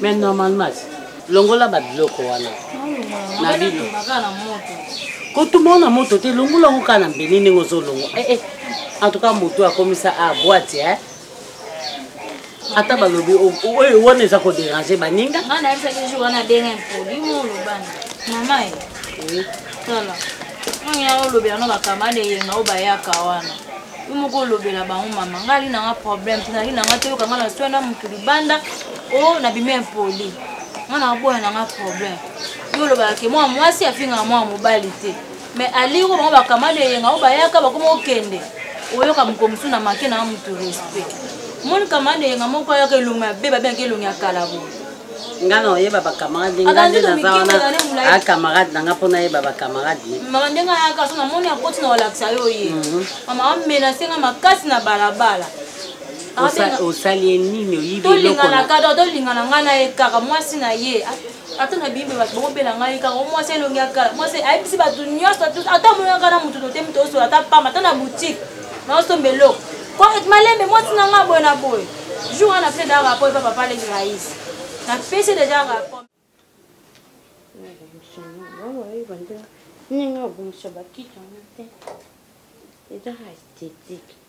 mais normalement longola babiloko wana na bino kotumba na moto te longola yango kaka na mbeli ndenge ozolongo eh, eh. en tout cas moto akomisa a ah, boite eh? ata balobi oyo wana eza koderange baninga nga nayebisaki jour wana denge mpoli molobana mama ye tala oya olobela no bakamade yenga oyo bayaka wana yo moko olobela bango mama nga ali nanga problème te nali nanga toyoka nga na soi na motu libanda o na bimi impoli nga nakaboya nanga problème yo olobaka ke mwana mwasi afingaka mwana mobali te mais alingi bango bakamata eyenga oyo bayaka bakoma okende oyoka mokolo mosusu na make na motu respect moni kamata eyenga moko ayaka elongi mabe babengaki elongi ya kala boye nga na oyeba bacamarade nga nde naza wana acamarade na nga mpo nayeba bacamarade ye mama ndenge ayaka so namoni akoti na kolakisa yo ye mhm. mama amenase nga makasi na balabala osali ye nini oyibi eloko tolingana kaka tolingana nga na ye kaka mwasi na ye ata na biyimbe bato bakobela ngai kaka o mwasi elongi ya kala mwasi ayebisi bato nyonso ata omonaka na moto tote moto osola ata pamba ata na boutique naosomba eloko koet malembe mwasi na ngai boye na boye jour wana apres da rapport epa papa leki rais napesi deja rapport ndenge abongisa bakiti yango te eza esthétique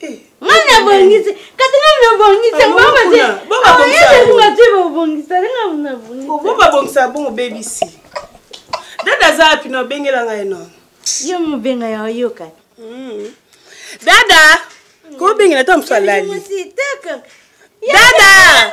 Eh, ngai nabongisi kati ngai nabongisa babongisa bongo obebisi dada aza wapi na obengela ngai no yo mobenga ya oyoka hmm. dada kobengela ta mosu alali dada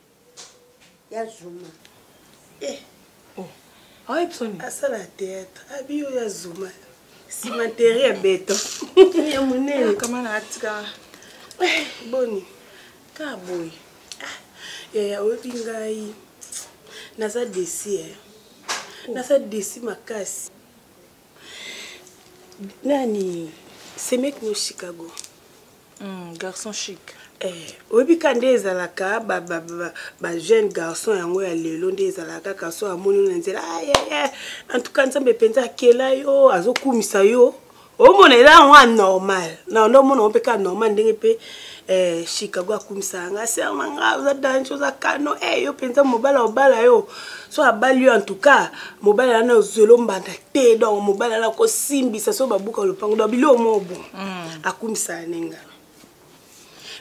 ya zuma eh. oh. ayebisoni ah, asala théâtre abiyo ya zuma nsima teri ya beto ya monene kama na atika eh, boni kaka boye ah, yaya oyebi ngai naza desi eh. oh. naza desi makasi nani semek no chicago mm, garçon chic eh, oyebi ka nde ezalaka bajeune garçon yango ya lelo nde ezalaka kaka so amoni na nzela ayeye en tout cas nzambe mpenza akela yo azokumisa yo omona eza yango anormal na nde omona yango mpe ka normal ndenge mpe eh, chicago akumisaka nga ser na nga oza dange oza kano e eh, yo mpenza mobala obala yo so abali yo en tout cas mobala yana ozweli ombanda te donc mobala yana kosimbisa so babuka lopango donc biloko moko bon mm. akumisaka ne nga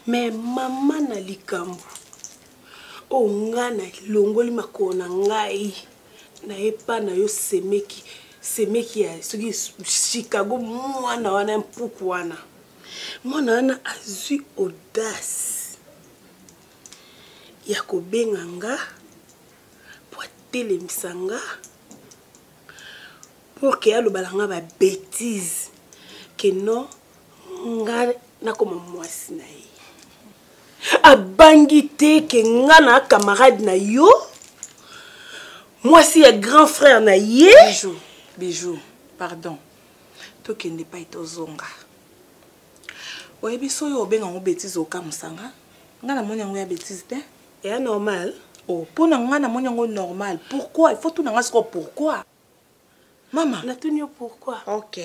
me mama na likambo oyo oh, nga na longoli makolo na ngai na epa na yo semeki semeki ya soki chicago mwana wana mpuku wana mwana wana azwi audace ya kobenga nga mpo atelemisa nga pour ke alobala nga babétise ke non nga nakoma mwasi na ye abangi te ke nga na camarade na yo mwasi ya grand frère na ye bijou bijou pardon tokende epai tozonga oyebi soki obenga yango betise okamusanga ngai namoni yango ya betise te eya normal o oh, mpo na ngai namoni yango normal pourquoi ifo tuna ngai sikoyo pourquoi mama natuni yo pourquoi ok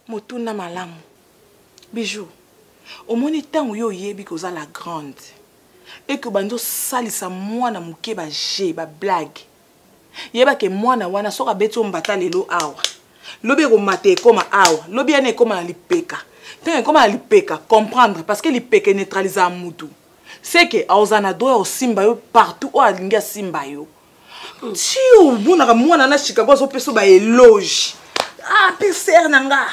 motuna malamu bijou omoni ntango yo oyebi koza la grande eke obandi osalisa mwana moke baje bablague yeba ke mwana wana soki abeti yo mbata lelo awa lobi ekomata ekoma awa lobi yana ekoma na lipeka ntango ekoma na lipeka comprendre parce que lipeka eneutralisaka mutu seke aoza na droit osimba yo partout oyo alingi asimba yo ti omonaka mwana na chicago azopesa yo baeloge ah mpe ser na nga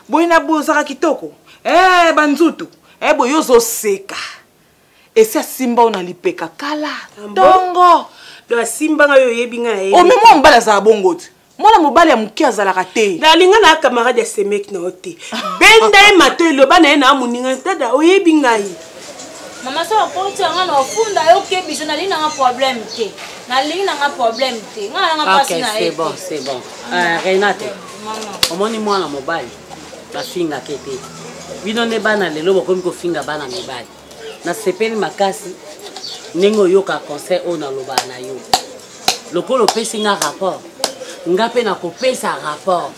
boye na bozaka kitoko e eh, banzutu e eh, boye ozoseka esi asimba oyo na lipeka kala ntongo ah do asimba ngai oyebi ngai nayebi omema oh, mobali azala bongo te mwana mobali ya moke azalaka te nalinga na camarade ya semeki na yo te benda ye mato eloba na ye na moninga dada oyebi ngai mama so okoti yanga na ofunda yo okebisa nalingi nanga problème te nalingi nanga problème te ngai nanga mpasi na ye bon c'est bon euh, renate omoni mwana mobali bafingaka ete bino nde bana lelo bokomi kofinga bana mibali nasepeli makasi ndenge oyoka conseil oyo nalobaka na yo lokola opesi nga rapport nga mpe nakopesa rapport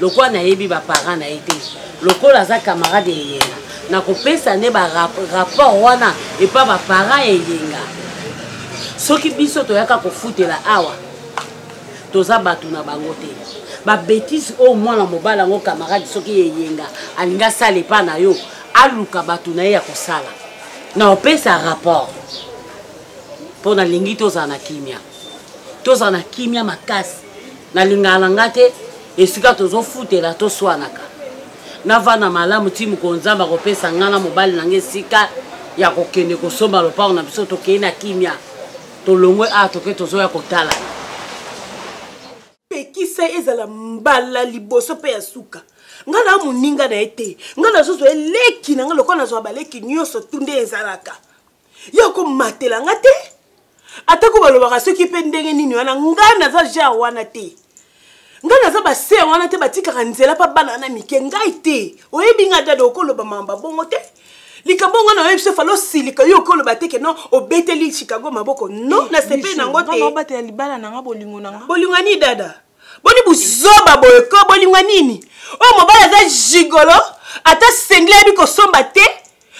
lokola nayebi baparent na ye te lokola aza camarade ya eyenga nakopesa nde barapport wana epa baparent ya eyenga soki biso toyaka kofutela awa toza bato na bango te babetise oyo mwana mobali yango kamarade soki eyenga alingi asala epai na yo aluka bato na ye ya kosala na opesa rapport mpo nalingi tozala na kimia tozala na kimia makasi nalingaka na nga te esika tozofutela toswanaka navanda malamu ti mokolo nzambe akopesa ngai na mobali na ngai esika ya kokende kosomba lopango na biso tokei na kimia tolongwe awa toke tozoya kotala pekisa ezala mbala liboso mpe ya suka ngai na moninga na ye te ngai nazozwa eleki na ngai lokola nazwa baleki nyonso tu nde ezalaka ye akomatela ngai te atako balobaka soki mpe ndenge nini wana ngai naza genre wana te ngai naza baser wana te batikaka nzela mpa bana wana mike ngai te oyebi ngai dada okoloba mamba bongo te likambo yango na yebisa fala osilika yo okoloba te keno obeteli chicago maboko no nasepeli nango teobatela libala nanga bolingo nanga bolingo nini dada boni buzoba boye ko bolingo nini oyo oh, mobali aza gigolo ata sengle ayebi kosomba te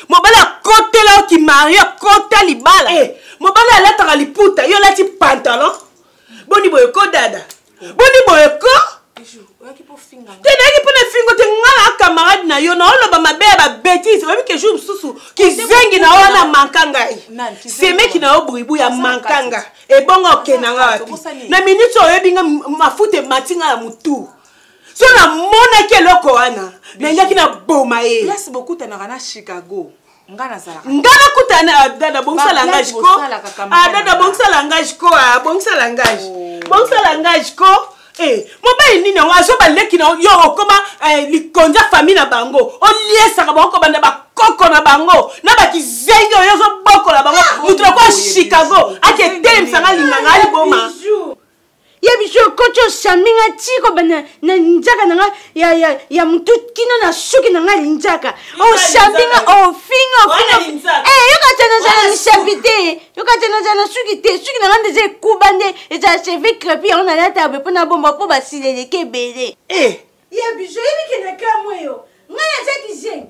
mobali akotela yo kimario akota libala hey. Eh. mobali alataka liputa yo olati pantalon boni boye ko dada boni boye ko te nayaki mpo na fingo te nga na camarade na yo naoloba mabe ya babetise oyebi ke jour mosusu kizengi na yo wana manka ngai semeki na yo bribu ya manka nga ebongo okenda nga wapi na miniti oyebi nga mafuta emati nga na motu so namonaki eloko wana nayaki na boma ye nga nazalaka nga nakutana na abdad abongisa langage ko abdad ah, abongisa langage ko ah, abongisa langage oh. bongisa langage ko eh, mobali nini yango azwa baleki na yo okoma eh, likonza famille na bango oliesaka bango kobanda bakoko na bango na bakizengi oyo ozobokola bango ah, moto nakoya chicago aketelemisa nga linganga aliboma ya biso ekoti osami nga ti kobanda na linzaka na nga ya, ya, ya motu kino na suki na nga linzaka osami nga ofinga ofinga eh, yoka te nazala na misapi te yoka te nazala na suki te suki na nga nde eza ekuba nde ezala cheve crepi yango nalata be mpo nabomba mpo basila eleki ebele eh. ya biso yebikende kamwe yo ngai naza kizengi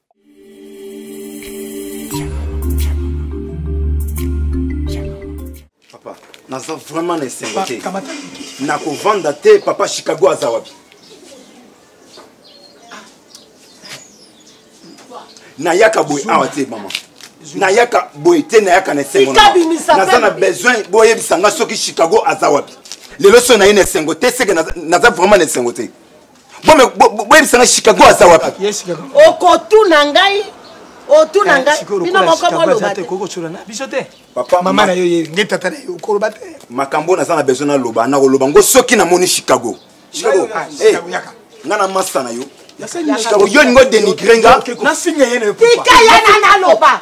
papa naza vraiment na esengo te nakovanda te papa chicago aza wapi nayaka boye awa te mama nayaka boye te nayaka na esengo naza na besoin boyebisa nga soki chicago aza wapi lelo so naye na esengo te seke naza vraiment na esengo te boyebisa ngai chicago aza wapi okotuna ngai otuna eh, ngai bino moko bolobamama na yo ye nge tata na yo okoloba te makambo naza na besoin naloba nakoloba ngo soki namoni chicago chicago ah, eh, nga na masta na yo oyo olingi odenigre nga tika ye na naloba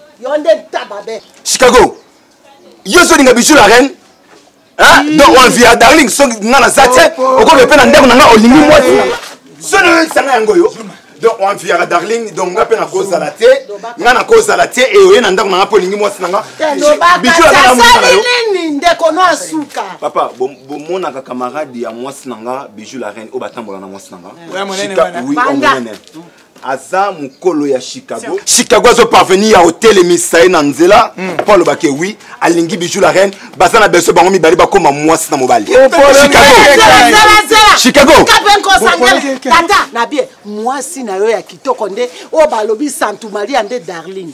yo nde ntaba be chicago yo ozolinga bijou la reine donc olvi ya darling soki nga naza te okobe mpe na ndako na nga olingi mwasi soni oyokisanga yango yo donc oanfiyaka darling donc nga mpe nakozala te nga nakozala te e oye na ndako na nga mpo olingi mwasi na nga nini ndeko no asuka papa bomonaka camarade ya mwasi na nga bijou la reine oyo batambola na mwasi na nga oui omonene aza mokolo ya chicago chicago azo parvenir ya otelemisa ye na nzela mpo hmm. alobaka wi alingi bijou la reine baza na beso bango mibale bakóma mwasi na mobali chicago tata na bie mwasi na yo ya kitoko nde oyo balobi santu maria nde darling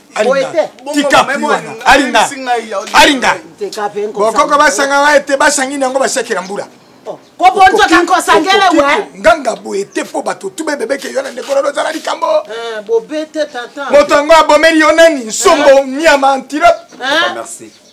tika pri wana alinga alinga bokoko basanga waye te basangini yango basekela mbula oh, kobonzoka nkosangele we nganga boye te mpo bato tube bebeke yo na ndeko na lozala likambo eh, bobete tata moto yango abomeli yo nani nsombo eh. nyama antilope eh.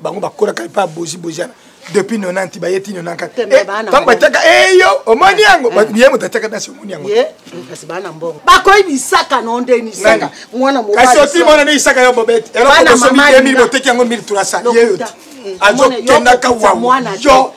bango bakolaka epai ya bozi bozana depuis 90 baye ti 94 eh, ntango batiaka eyo eh, omoni yango mm. ye moto atiaka dansi omoni yango bakoyi bisaka no nde nisaka mwana kasi oti mwana nde isaka yo bobete eloko bosomi 2000 boteki yango 1300 ye yo ti azokendaka wawa yo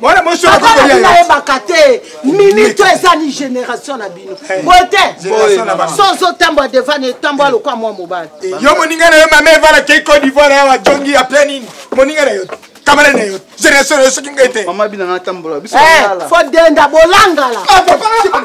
wana mosi oyo akoki kolia ye yebaka te minute eza ni génération na bino eh, boye te sozo otambwa devant na etambwa lokola mwa mobali eh, yo moninga na yo mama evala kei cote d'ivoire awa jongi apres nini moninga na yo kamala na yo génération na yo soki ngai te mama bina nga tambola biso eh, fo denda bolangala ah,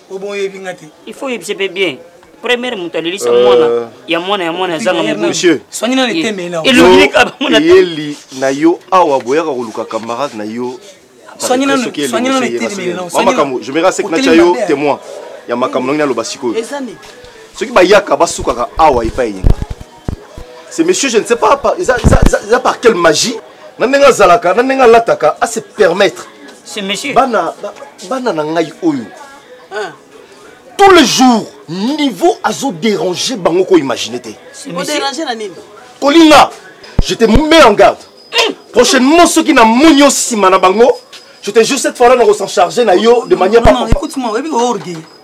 obo oyebi nga te il faut oyebisa mpe bien première moto alelisa euh, mwana ya mwana ya mwana azanga moboyeli na yo awa boyaka koluka camarade na yo makambo je me rasek natya yo témoin ya makambo nangi naloba sikoyo soki bayaka basukaka awa epai yenga ce monsieur je ne sais pas par, eza, eza, eza, eza par quelle magie na ndenge azalaka na ndenge alataka a se permettre ce monsieur bana ba, bana na ngai oyo ah. tous les jours niveau azo déranger bango ko imaginer te déranger na nini kolinga je te mets en garde hmm. prochainement soki na moni yo nsima na bango je te jure cette fois là na ko s'en charger na yo de manière pas écoute moi oyebi ko orgueil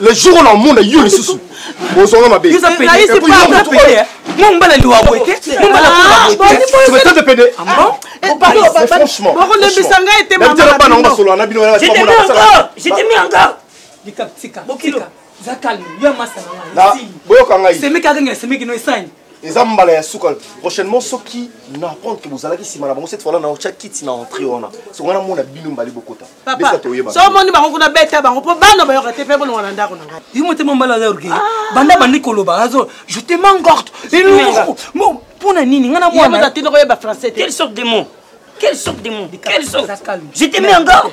le jour oyo na omona yo lisusu ozonga mabe mombala liwa boye te mombalaote pede franchement bokolembisa ngai te mabana bango basolola na bino boyoka ngai semeki akanga semeki no esani eza mbala ya suka prochainement soki na apprendre que bozalaki nsima na bango cette fois là na otya kiti na entrée wana soki wana mona bino mbali bokota besa toyeba so omoni bango kuna beta bango mpo bana bayoka te mpe bolonga na ndako na ngai yo motema mbala aza orgueil ah. banda bandi koloba azo je te manque orte mpo na nini ngai na mwana te nakoyeba français te quelle sorte de mot quelle sorte de mot quelle sorte je te mets en garde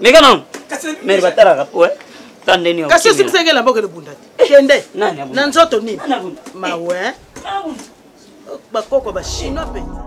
meka nanu mere batalaka po eh. tandeni kasi osimisaki elamba okende bunda te kende na nzoto nini mawe eh. bakoko bachinois mpenza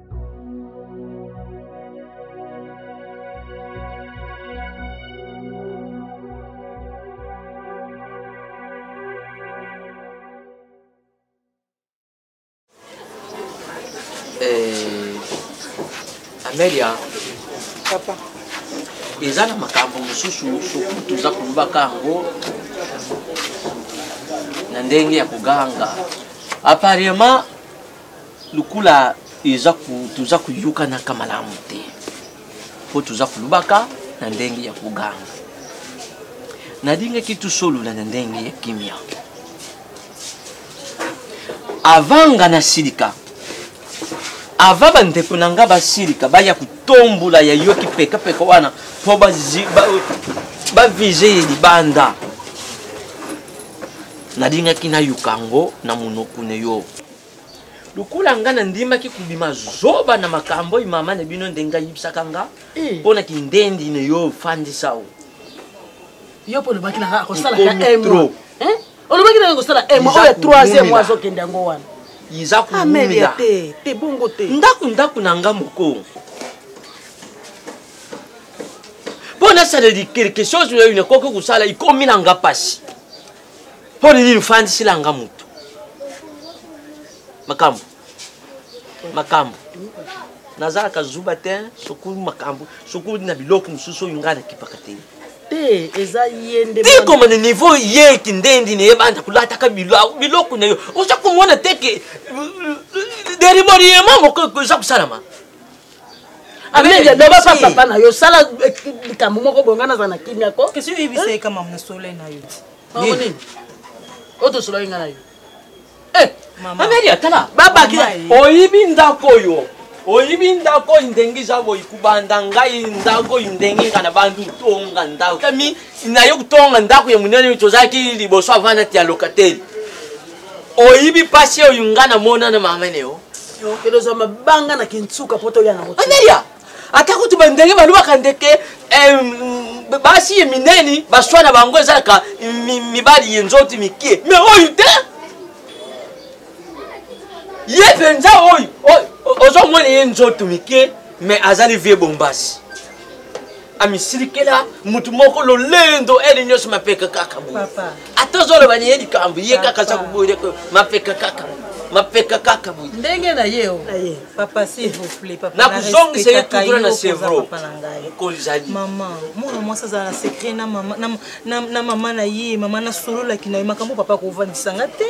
amelia papa eza na makambo mosusu soki toza kolobaka yango na ndenge ya koganga apparemment lokola eza toza koyokanaka malamu te mpo toza kolobaka na ndenge ya koganga nalingaki tosolola na ndenge ya kimia avanga nasilika ava bandeko na nga basilika baya kotombola ya yo kipekapeka wana mpo bavize ye libanda nalingaki nayoka yango na monoko na yo lokola nga nandimaki kobima zoba na makambo oyo mama na bino ndenge ayibisaka nga eh. mpo na kindendi na yo ofandisa o yo mpo olobaki na nga akosalaka emo eh? olobaki na nga kosala emo oyo ya troisième oyo azokende yango wana iza ah, koumela te te bongo te ndako ndako na nga moko mpo nasala quelque chose oyo nakoki kosala ikomi na nga mpasi mpo nini ofandisila nga motu makambo makambo nazalaka zuba te sokulu makambo sokulu na biloko mosusu oyo ngai nakipaka te te eza ye nde tikoma na niveau ye kindendi na ye banda kolataka biloko na yo oza komona te ke deriboriema moko eza kosalama amende loba pa papa na yo sala eh, likambo moko boye ngai naza na kimia ko kasi oyebisa ye kamam na solo na yo ti bango nini oyo tosolaki ngai na yo eh, amende atala babaki oyibi ndako oyo oyibi ndako oyo ndenge eza boyi kubanda ngai ndako oyo ndenge nga na bandi otonga ndako kami nayo kotonga ndako ya monene tozalaki liboso avanda ti ya lokateli oyibi mpasi oyo nga namona na mamene yo kende ozwa mabanga na kinsuka mpo toya nango anelia ata kutu bandenge balobaka ndeke eh, basi ye minene baswa na bango ezalaka mibali ye nzoti mikie me oyo te ye mpenza oyo ozomona ye nzoto mikie me azali vie bombasi amisilikela motu moko lolendo ele nyonso mapeka kaka boye ata ozoloba na ye likambo ye kaka aza koboye mapeka kaka mapeka kaka boye ndenge na ye nakozongisa ye tudra na sevro mokolizali mama mwana mwasi azala na sekret na mama na ye mama nasololaki na ye makambo papa kovandisanga te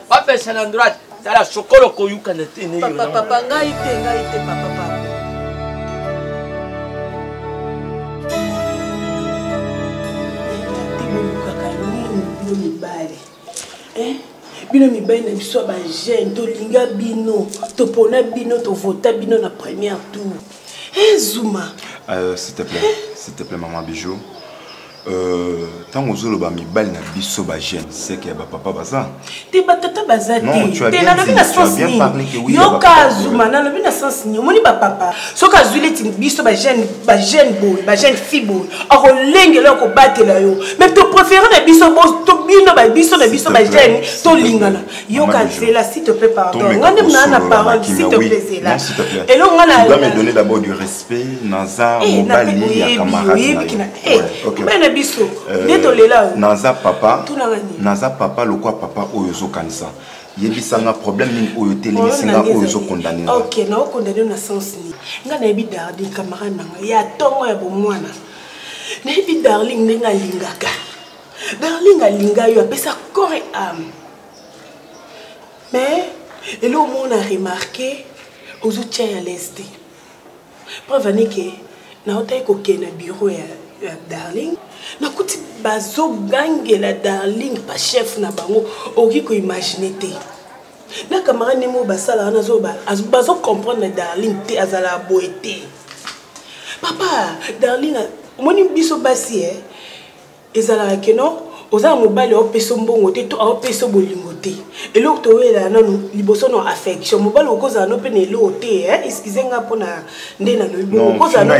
bapesa na droite tala sokolo koyukana te papa ngai te ngai te papa mibali eh? bino mibali na biso ya bajeune tolinga bino topona bino tovota bino na première tour ezuma eh, euh, s'il te plaît eh? s'il te plaît maman bijou Euh, ntango ozoloba mibali na biso bajeune seke ya bapapa baza te batata baza te nalobi na sens nini yoka zuma nalobi na sens nini omoni bapapa soki azwi neti biso bajeune boye bajeune fi boye akolengela yo kobatela yo mai topréféré na biso bino biso na biso bajeune tolingana yoka zela si te plaît pardon ngai nde mnaa na parole si te plaît zela eloko ngai na mpe naza eh, mobali ya camarade na eh, eh, naza papa naza papa lokwa papa oyo ozokanisa yebisa nga problème nini oyo otelemisi nga oyo ozokondane ok naokondane na sens nini nga nayebi dardi camarade na nga ya ntongo ya bomwana nayebi darling ndenge alingaka darling alinga yo apesa corps et ame mais eloo mona remarke ozotya ya leste preuve ani ke naotaki kokende na bureau ya, ya darling nakuti bazogangela darling bachef na bango okoki koimagine te na camarade ndenge oyo basalaka nazoba bazocomprendre na darling te azalaka boye te papa darling omoni biso basi e eh? ezalaka ke no oza na mobali aopesa mbongo te to aopesa bolingo te eloko toyelaa nano liboso na affection mobali okozala no mpe na eloko te eh, excuse nga mpona nde nalobibokozala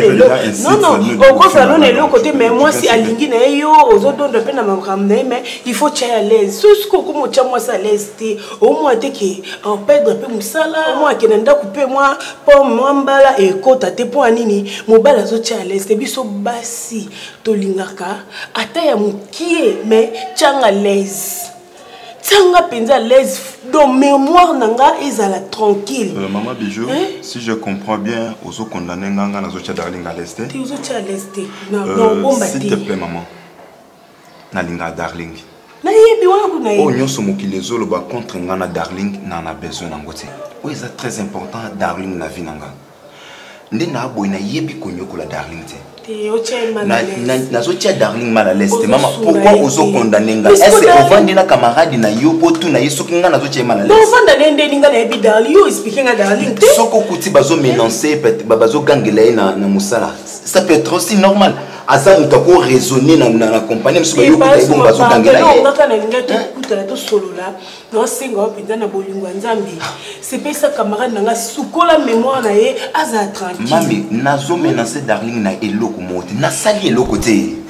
no na eloko te mai mwasi alingi na ye yo ozodonda mpe na makambo na ye mai il faut tya ya laise so soki okoma otya mwasi a laise te omwa te ke operdre mpe mosala omwa akenda ndako mpe mwa po mwa mbala ekota te mpo ya nini mobali azotya ya laise te biso basi tolingaka ata ya mokie mais tianga laise tianga mpenza laise donc mémoire na nga ezala tranquille euh, mama bijou hein? si je comprends bien ozo condamne nga nga nazotia darling à l'aise te te ozotia à l'aise te naobomba euh, te s'il te plaît maman nalingaka darling nayebi wana kuna oyo nyonso mokili ezoloba contre nga na darling na na besoin nango te oyo eza très important darling na vie na nga nde naa boye nayebi konyokola darling te nazotia darling mal alaise te mama pourkui ozokondane ngai ese ovandi na camarade na yo mpo tuna ye soki ngai nazotia ye mal alaisesoki okuti bazomenance bazogangela ye na mosala ça peut être aussi normal aza moto ako raisonne na compagnie mosusu bayokuta ye bongo bazogangela ye naosenga yo mpenza na bolingo ya nzambe sepelisa camarade na ngai sukola mémoire na ye azala tranquillemami nazomenase darling na eloko moko te nasali eloko te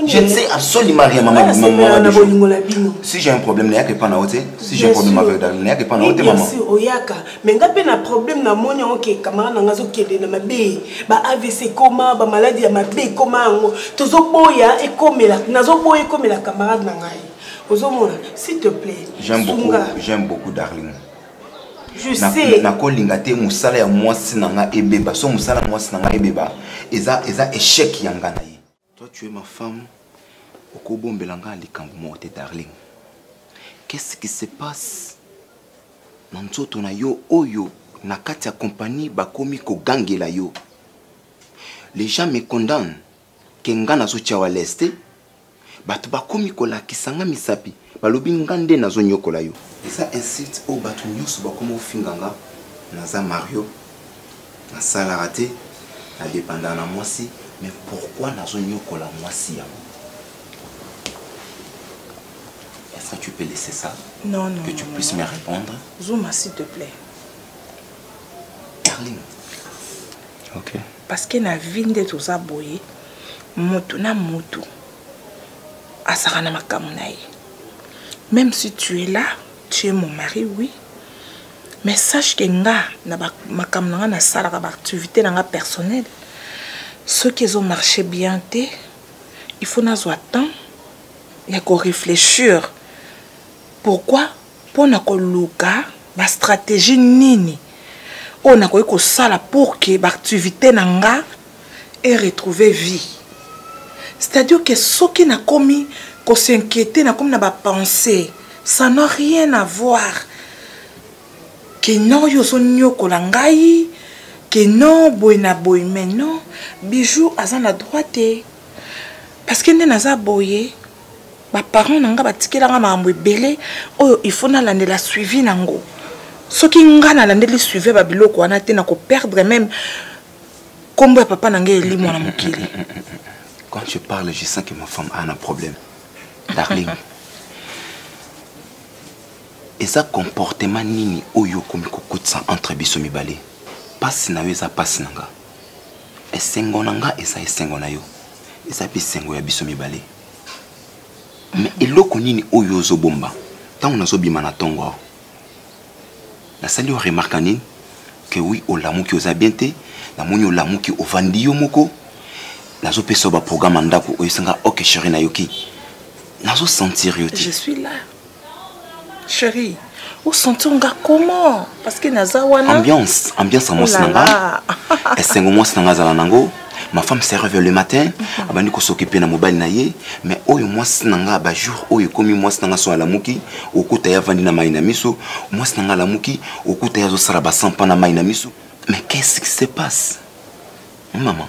Je ne sais absolument rien, maman. Ah, maman, maman si j'ai un problème, il n'y a que pas na haute. Si j'ai un problème avec Darling, il n'y a que pas na haute, maman. Bien sûr, oyaka. Mais nga pe na problème na moni ok, camarade na ngazo kende na mabe. Ba AVC coma, ba maladie ya mabe coma ngo. Tozo boya ekomela, nazo boya ekomela camarade na ngai. ozomona s'il te plaît j'aime beaucoup j'aime beaucoup darling je sais nakolinga te mosala ya mwasi na nga ebeba so mosala ya mwasi na nga ebeba eza eza échec ya nga na ye toi tu es ma femme okobombela nga likambo moko te darling qu'est-ce qui se passe na nzoto na yo oyo na kati ya kompani bakomi kogangela yo les gens me condamnent ke nga nazotia yo alese te bato bakomi kolakisa nga misapi balobi nga nde nazonyokola yo eza insulte oyo bato nyonso bakoma ofinga nga naza mario nasalaka te nadepandaka na mwasi mais pourquoi nazonyokola mwasi yango est-ce que tu peux laisser ça non, non, que tu non, puisses non. me répondre zuma s'il te plaît darling ok Parce que na vie nde toza boye mutu na mutu azalaka na makambo na ye même si tu es là tu es mon mari oui mais sache que nga na makambo na nga nasalaka baactivité na nga personnel soki ezomarche bien te il faut nazwa temps ya korefléchir pourquoi mpo na koluka bastratégie nini oyo nakoki kosala pour ke baactivité na nga eretrouve vie c'est-à-dire ke soki nakomi kosinquiete nakomi na bapense ça n'a rien à voir ke non yo ozoniokola ngai ke non boye na boye mais non bijou aza na droit te parce que nde naza boye ba parents na nga batikela nga makambo ebele oyo il faut nalandela suivi na ngo soki nga nalandeli suivi ba biloko wana te na koperdre meme nkombo ya papa na ngai elimo na mokili quand je parle je sens que ma femme a un problème darling eza comportement nini oyo okomi kokotisa entre biso mibale mpasi na yo eza mpasi na nga esengo na nga eza esengo na yo eza mpe esengo ya biso mibale mais eloko nini oyo ozobomba ntango nazobima na ntongo awa nasali yo remarka nini ke wi olamuki oza bien te namoni olamuki ovandi yo moko nazopesa yo baprograme ya ndako oyesinga oke sheri nayoki nazosentir yo te Chérie, où sentir nga comment Parce que naza wana. Ambiance, ambiance en mwasi nanga. Esengo mwasi nanga zala nango. Ma femme se réveille le matin, mhm. abandi ko s'occuper na mobile na ye, mais oyo mwasi nanga ba jour oyo komi mwasi nanga so alamuki, okuta ya vandi na mai na miso, mwasi nanga alamuki, okuta ya zo sala ba sampa na mai na miso. Mais qu'est-ce qui se passe? Maman.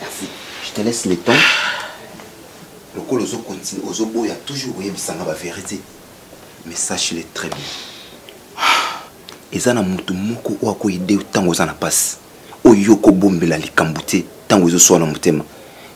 Merci. Je te laisse le temps. Le col ozo continue, ozo boya toujours voyez bisanga ba vérité. Mais sache le très bien. Eza na mutu moko oyo akoyede ntango oza na mpasi oyo yo okobombela likambo te ntango ezoswana motema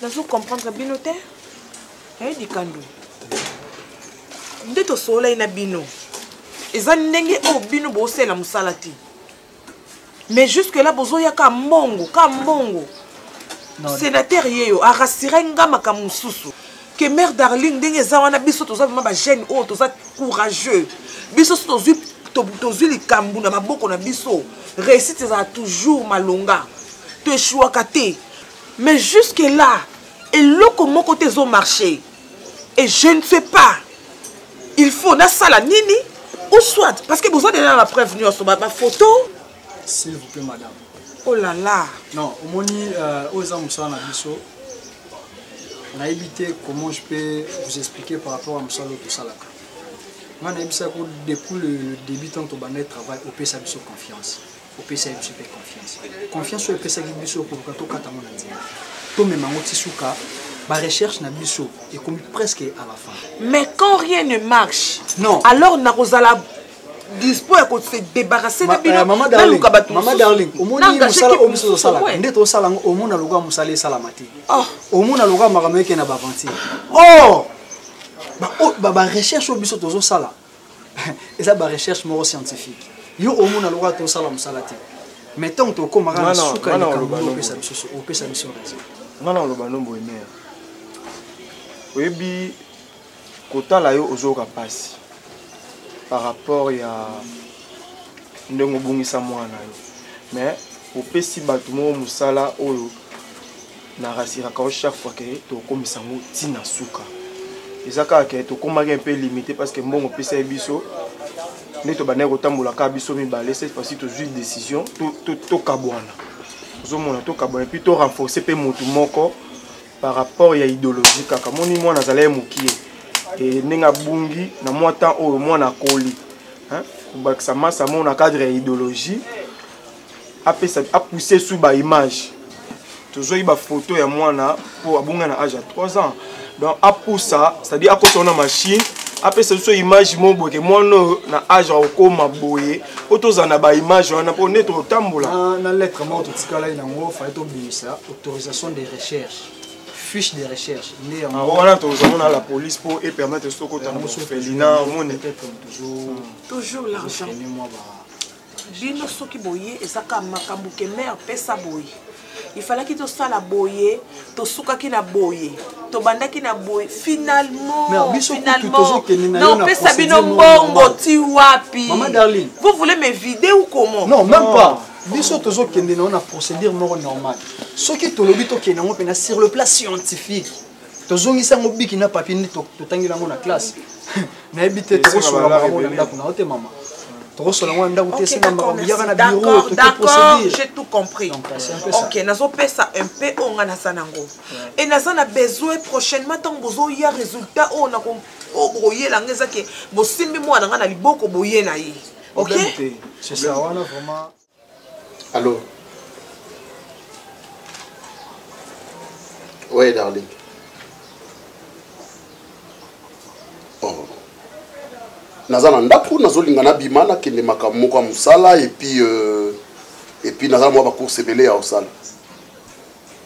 nazo comprendre bino te aye likandu nde tosololai na bino eza ndenge oyo bino bosalela mosala te mais jusque là bozoya ka mbongo ka mbongo sénateur ye yo arasire nga makambo mosusu ke mare darling ndenge eza wana biso toza vraimen bagene oyo toza courageux biso so tozwi tozwi likambo na maboko na biso réussite ezala toujours malonga toeshuaka te mais jusque là eloko moko te ezo marche et je ne sais pas il faut nasala nini ou soit parce que boza deja na bapreuve nyonso baphoto s'il vous plaît madame oh là là non omoni euh, oyo eza mosala na biso nayebi te comment je peux vous expliquer par rapport ya mosala oyo tosalaka ngai nayebisaki depuis le début ntango tobandaki travail opesa biso confiance opesa ye biso mpe confiance confiance oyo epesaki biso koluka tokata yango na nzela tomema yango ti suka barecherche na biso ekomi presque à la fin mais quand rien ne marche non alors nakozala dispo ya kose débarrasse na bino eh, naluka bato mama darling omoni mosala oyo biso tosalaka nde tosala yango omona lokola mosala esalama te oh. omona lokola makambo eke na baventure or oh! barecherche oyo biso tozosala eza ba recherche moko scientifique yo omona lokola tosala mosala te mais ntango tokomaka na suka opesa biso opesa biso raison nga na oloba nombo emeya oyebi kotala yo ozoyoka mpasi par rapport ya ndenge obungisa mwana yo mais opesi bato moko mosala oyo na rasiraka yo chaque fois ke tokomisa yango ti na suka eza kaka ke tokomaki un peu limité parce que mbongo opesa ye biso nde tobandaki kotambola kaka biso mibale cette fois-ci tozwi décision tokabwana ozomona tokabwana epuis to renforcer mpe motu moko par rapport ya idéologie kaka moni mwana azala ye mokie e, ndenge abungi na mwa temps oyo mwana akoli kobakisa masa moko na cadre ya idéologie apesa apousse sur ba image tozwaki bafoto ya mwana mpo abonga na age ya 3 ans donc apusa c'est-à-dire akosa wana machine apesa biso image moko boye ke mwana oyo na age ya kokoma boye mpo tozala na baimage wana mpo nde totambola na lettre moko totikalaki nango fai tobimisa autorisation de recherche fiche de recherche nde yango ah, wana tozango na la police mpo epermettre sokota na mosofelina omoni toujours l'argent bino soki boye eza kaka makambo ke mare pesa boye ifalaki tosala boye tosukaki na boye tobandaki na boye finalementaopesa bino mbongo ti wapi vous voulez me vide ou comment non même pas biso tozokende nango na procédure moko normale soki tolobi tokende yango mpena sur le plan scientifique tozongisi yango biki na papier nde totangeli yango na classe nayebi te tokosola bango na ndako na yo te mama tokosola yango na ndako te esenga makambo yaka na biro totoprocédure tout compris euh, ok nazopesa un peu oyo ngai naza nango e naza na besoin prochainement ntango bozoya résultat oyo na oyo bokoyela ngai eza ke bosimbi mwana ngai na liboko boye na ye ok c'est ça wana vraiment Allô Ouais, darling. Oh. naza na ndako nazolinga nabima nakende makambo moko ya mosala epuis euh, epuis naza mwa bacourse ebele ya kosala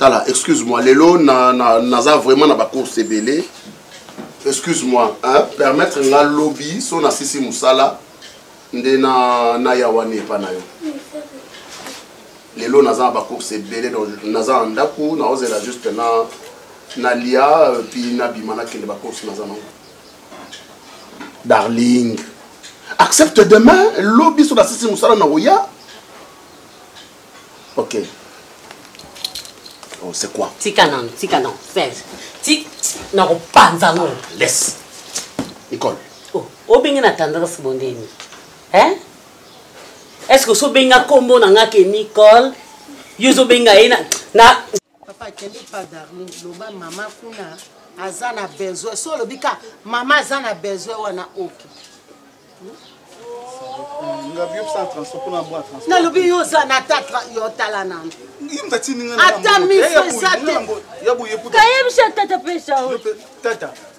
tala excuse moi lelo naza na, na vraiment na bacourse ebele excuse moi hein, permettre nga lobi so nasisi mosala nde na, na ya wana epa na yo lelo naza na bacourse ebele donc naza na ndako naozela juste na nalia euh, puis nabima nakende bacourse naza nango darling accepte demain lobi so nasisi mosala na koya Ok. Oh, c'est quoi Tika non, tika non. Tika non, panza non. Laisse. Nicole. Oh, obenge na tendresse bondeni. Hein Est-ce que so benga kombo na nga ke Nicole? Yo zo benga ye na na papa akende pa darling loba mama kuna aza na besoin so olobi ka mama aza na besoin wana oke nalobi yo oza na tatra yo tala nano ata miso eza te kayebisa tata pesa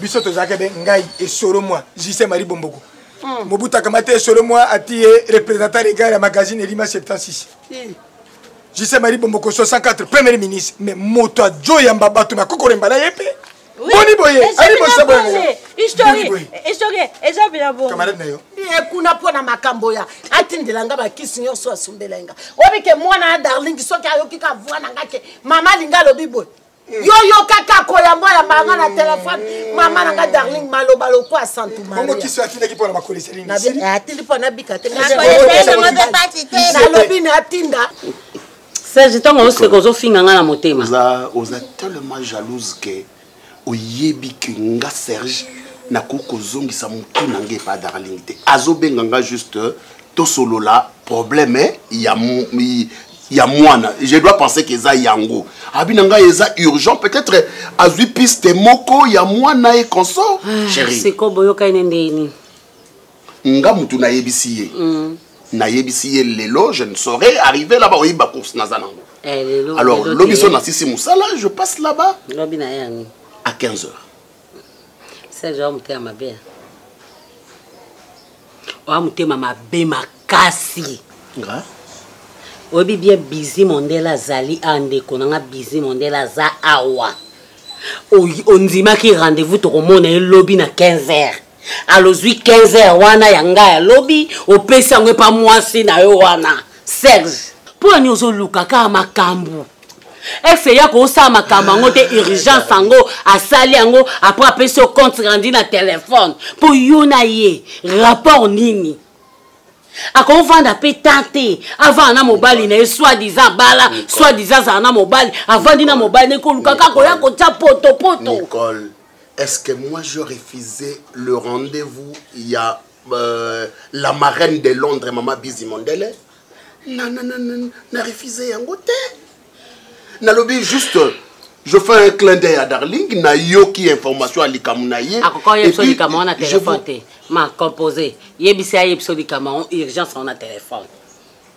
biso tozalaka be ngai esolo mwa jise marie bomboko hmm. mobutu akamata esolo mwa ati ye représentant regard ya magazine elima 76 jise marie bomboko 64 premier ministre mais moto ajoyamba bato na kokolemba na ye mpe boni boye ali mosaboye historie eza bila bokamarade na yo kuna mpo na makambo ya atindela nga bakisi nyonso asumbela nga obi ke mwana ya darling soki ayoki ka voi na nga ke mama alinga alobi boye yo yoka kako yango ya banga na telefone mama na nga darling maloba lokwa santu mariaatindaki mpo na bakolisa nini atindi mpo nabika te nalobi na atinda serge ntango oseka ozofinga ngai na motema oza tellement jalouse ke oyebi ke nga serge nakoki kozongisa motu na ngai epa darling te azobenga nga juste tosolola problème ya ya mwana je dois penser que eza yango abi na ngai eza urgent peut-être azwi piste moko ya mwana e consort ah, chérie siko boyokani na ndenge nini nga mutu nayebisi ye mm. nayebisi ye lelo je ne saurais arriver là-bas oyebi bacourse naza nango eh, alors lobi so nasisi mosala je passe là-bas à 15 heures serge oa motema mabe ya oa motema mabe makasi nga oyebi bien bizi mondele azali a ndeko na nga bizi mondele aza awa ondimaki rendez-vous tokomona ye lobi na 15 heures alozwi 15 heure wana ya ngai ya lobi opesi yango epa mwasi na yo wana serge mpo ya nini ozoluka kaka makambo ex eya kosala makambo yango te urgence yango asali yango apres apesi yo compte rendu na telefone mpo yo na ye rapport nini akovanda mpe ta te avanda na mobali na ye soit disant abala soit disant azala na mobali avandi na mobali na ye koluka kaka koya kotya potopoto est-ce que moi je refusais le rendez-vous il y a euh, la marraine de Londres maman Bizi Mondele na na na na na refusé yango te nalobi juste je fais un clin d'œil à darling nayoki information ya likambo na ye akoka oyebisa likambo wana telefone te ma composé yebisa ye yebisa likambo yango urgence wana telefone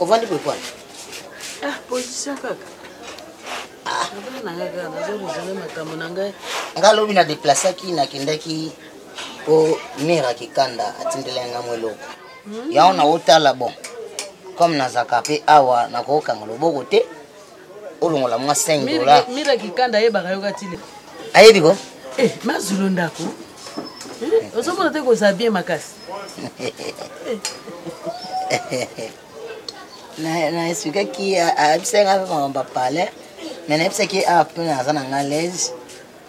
ovandi boye kwana ah, position kaka ah. makambo na ngai nga lobi na deplaceaki nakendaki po mire akikanda atindelaki nga mwa eloko hmm. yango naotala bon comme nazalaka mpe awa nakokanga loboko te olongola mwa 5 dola mira kikanda ayebaka yoka tile ayebi ko eh, mazulu ndako eh, ozomona te kozala bien makasi na esukaki ayebisaki nga mpe makambo bapale me nayebisaki awa mpe naza na nga lese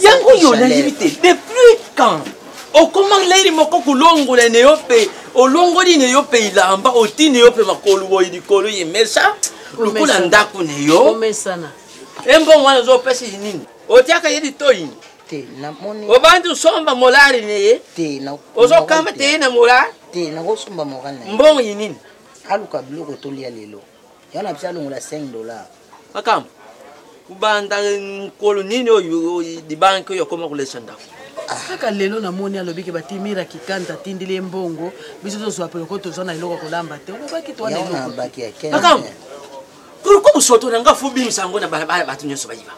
yango yo nayebi te depuis quand okoma leli moko kolongola ne yo mpe olongoli ne yo mpe ilamba otini yo mpe makolo boye likolo ye mesa lokola ndako ne yo embongo wana ozopesa ye nini otiaka ye litoi obandi osomba molari ne ye ozokamba te ye na molari mbongo ye nini aluka biloko tolia lelo yana biso alongola 5 dollars makambo kobanda mokolo nini oyo libanki oyo akoma kolesa ndako ah. kaka lelo namoni alobi ke batimira kikanda atindili ye mbongo biso tozwa peloko tozwa na eloko kolamba te olobaki toanamakambo pourkoi mosoto na nga fobimisa yango na balabala bato nyonso bayiba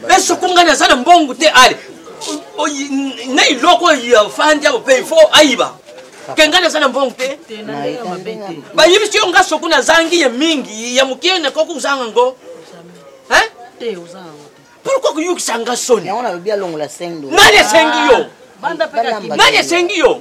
mpe soko ngai naza na mbongo te ale na eloko oyo afandi apo mpe ifo ayiba ke ngai naza na mbongo te bayibisi yo ngai soko nazangi ya mingi ya moke nakoki kozanga ngo pourkoi koyokisa nga soni nani asengi yo ah, nani asengi yo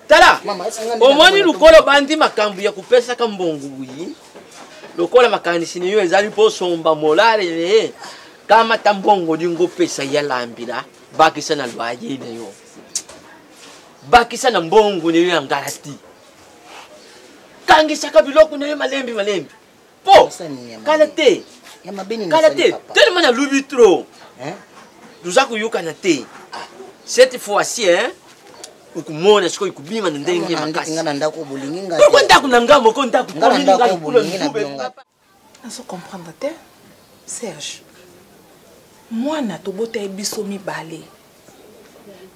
tala omoni lokola obandi makambo ya kopesaka mbongo boye lokola makanisi na yo ezali mpo osomba molare na ye kamata mbongo olingi opesa ya lambila bakisa na lwaye na yo bakisa na mbongo na yo ya ngalati kangisaka biloko na yo malembi malembi po kala te kala te tellement nalubi trop toza koyokana te ah. cette fois-ci hein okomona sikoyo kobima na ndenge makasipoko ndako na ngai moko ndako nazo comprendre te serge mwana tobota ye biso mibale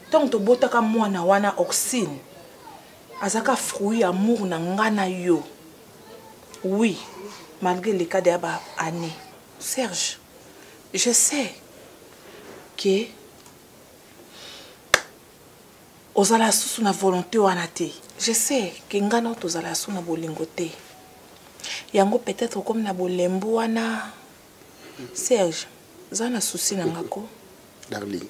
ntango tobotaka mwana wana oxine azaka fruit ya amour na ngai na yo oui malgré le cas ya ba année serge je sais ke ozala susu na volonté wana te je sais ke ngai nao tozala susu na bolingo te yango peut-être okomi na bolembu wana serge za na souci na ngako darling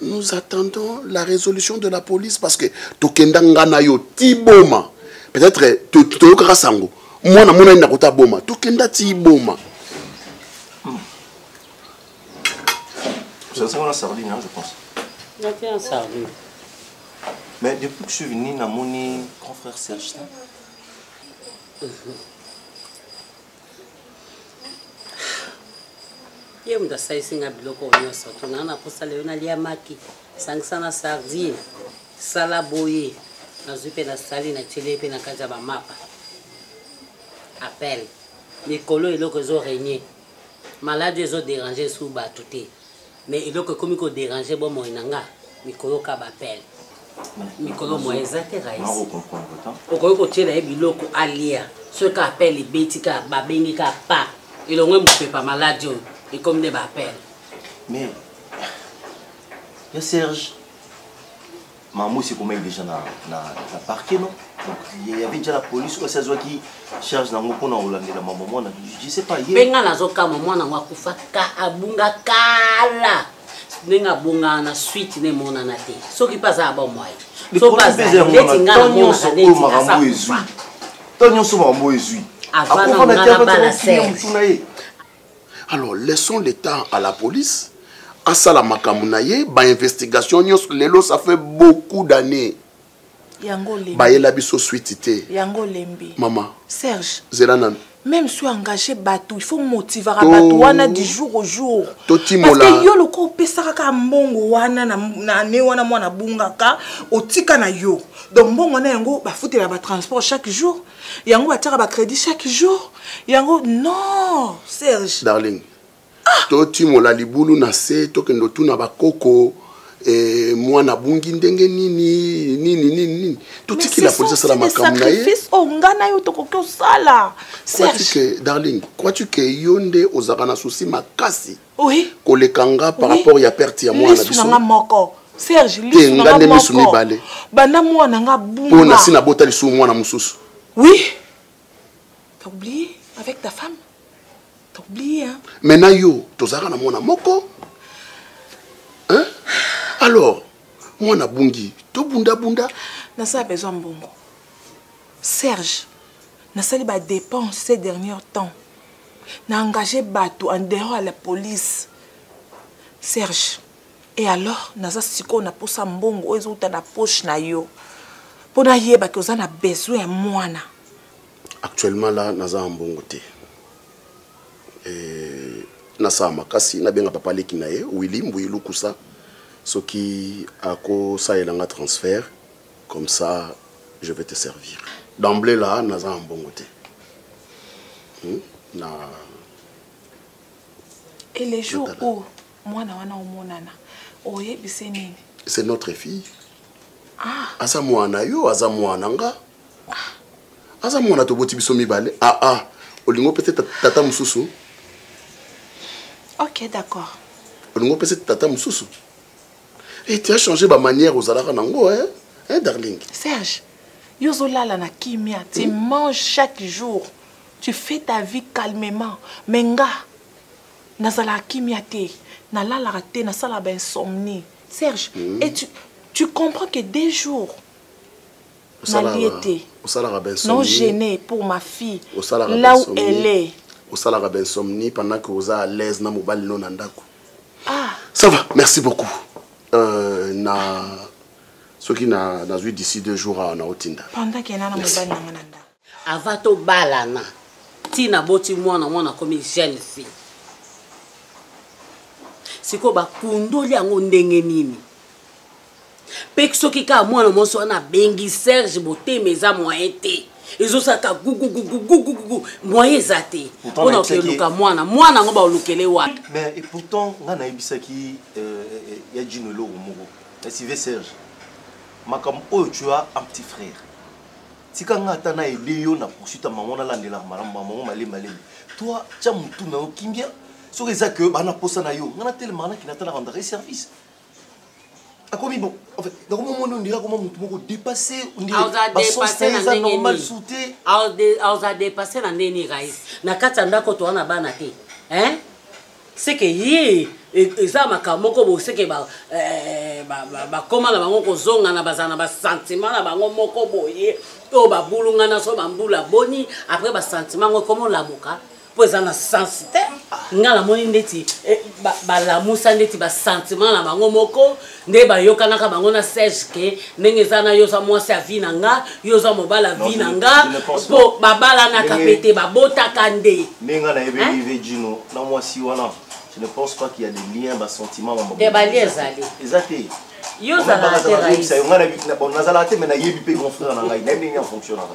nous attendons la résolution de la police parce que tokenda nga na yo ti boma peut-être toyokaka sango mwana monani na kota boma tokenda ti boma ozalaki wana sardine je pense nati en sardine mais depuis que je suis venu namoni grand frère serge ye moto asalisi nga biloko oyo nyonso to naa na mposa lelo nalia maki sangisa na sardine sala boye nazwi mpe nasali natyeli ye mpe na kati ya bamapa appel mikolo eloko ezo regne maladi ezo derange su bato te mais eloko ekomi ko déranger bomoi na nga mikoyoka bapele mikolo mwa eza te raisi okoki kotyela ye biloko alia soki ka apele ebeti ka babengi ka pa elongo mopepa maladi oyo ekomi nde baapele mais yo serge Mamu c'est comme déjà na na na parquet non donc il y avait déjà la police ou ça soit qui charge na ngoko na Hollande la maman moi je sais pas hier benga na zoka maman na ngoko fa ka abunga kala ndenge abongaka na suite na emonana te soki mpe aza aba mwai soki azalibeti ngai namonaka neti to nyonso makambo ezwi avananga na bala ser alors laissons le temps à la police asala makambo na ye bainvestigation nyonso lelo ça fait beaucoup d'années bayela biso switi te yango olembi mama serge zela nanu même soki engage bato il faut motivaka bato wana du jour au jour parceke yo lokola opesaka kaka mbongo wana na ne wana mwana abungaka otika na yo donc mbongo na yango bafutela batransport chaque jour yango batiaka ba crédit chaque jour yango non serge darling ah! totimola libulu na se tokende otuna bakoko eh, mwana abungi ndenge nini nini nini nini totikela polisi asala makambo na ye oyo ngai na yo tokoki osala darling crois-tu ke yo nde ozalaka na susi makasi oui. koleka nga par oui. rapport ya perte ya mwana biso nga moko serge te nga nde misu mibale banda mwana nga bunga mpo nasi nabota lisusu mwana mosusu oui t'as oublié avec ta femme t'as oublié hein? mais na yo tozalaka na mwana moko hein? alors mwana bungi tobundabunda nasala besoin mbongo serge nasali badepense ces derniers temps na engage bato en dehors ya la police serge e alors naza sikoyo na mposa mbongo oyo ezouta na poche na yo mpo nayeba ke oza na besoin ya mwana actuellement la naza na mbongo te eh, nasala makasi nabenga papa leki na ye willi mbuyi lukusa soki akosalela nga transfert comme ça je vais te servir d'emblée là naza na mbongo te hmm? na et les jours où mwana wana omonana oyebise nini c'est notre fille ah. aza mwana yo aza mwana nga ah. aza mwana toboti biso mibale aa ah, ah. olingo mpe te tata mosusu ok d'accord olingo mpe se tata mosusu Et eh, tu as changé ma manière aux alara nango, hein? Hein, darling? Serge, yo zolala na kimia, tu hmm? manges chaque jour, tu fais ta vie calmement. Mais nga, nazala kimia te, nalalaka te, nasala ba insomnie. Serge, hmm? et tu, tu comprends que des jours, nalie te. Osalaka ba insomnie. Non gêné pour ma fille. Osalaka là où elle est. Osalaka ba insomnie pendant que oza à l'aise na mobali no na ndako. ah. ça va merci beaucoup euh, na soki na nazwi d'ici deux jours awa naotinda pendant ke nana mobali nanga na ndako ava tobalana ntina boti mwana mwana akomi jeune fille sikoyo bakundoli yango ndenge nini mpe soki kaka mwana mwasi wana abengi serge motema eza moyen te ezosaka gugugugugugugu moyen eza te mpona kokeluka mwana mwana yango baolukele wapi mais et pourtant ngai nayebisaki euh, euh, euh, ya jino eloko moko ya sive serge makambo oyo tu as un petit frère tika ngai ata nayede yo na poursuite ya mango nalandelaka malamu mamango malembalema toi tya motu na yo kimia soki eza ke bana mposa na yo ngai natelemaka nakina ata na rendrai service akomi bon en fait nakomi omoni ondira koma motu moko dépassé ondiraeza normal su te aoza dépassé na ndenge nini rais na kati ya ndako toa na bana te hein seke ye e, eza makambo moko boseke eh, bakoma na bango kozongana bazala na basentiment na bango moko boye oyo babulungana so bambula boni après basentiment yango ekoma olamuka mpo eza na sens te nga namoni ndeti eh, balamusa ndeti basentiment na bango moko nde bayokanaka bango na serge ke ndenge eza na yo oza mwasi ya vi na nga yo oza mobali ya vi na nga mpo babalanaka mpe te babotaka nde ndenge nga nayebeli ve jino na mwasi wana je ne pense pas qu'il y a des liens basentiment te balie ezali eza te yo ozalaka te nazalaka te me nayebi mpe grand frère na ngai nayebi ndenge ya fonctionnaka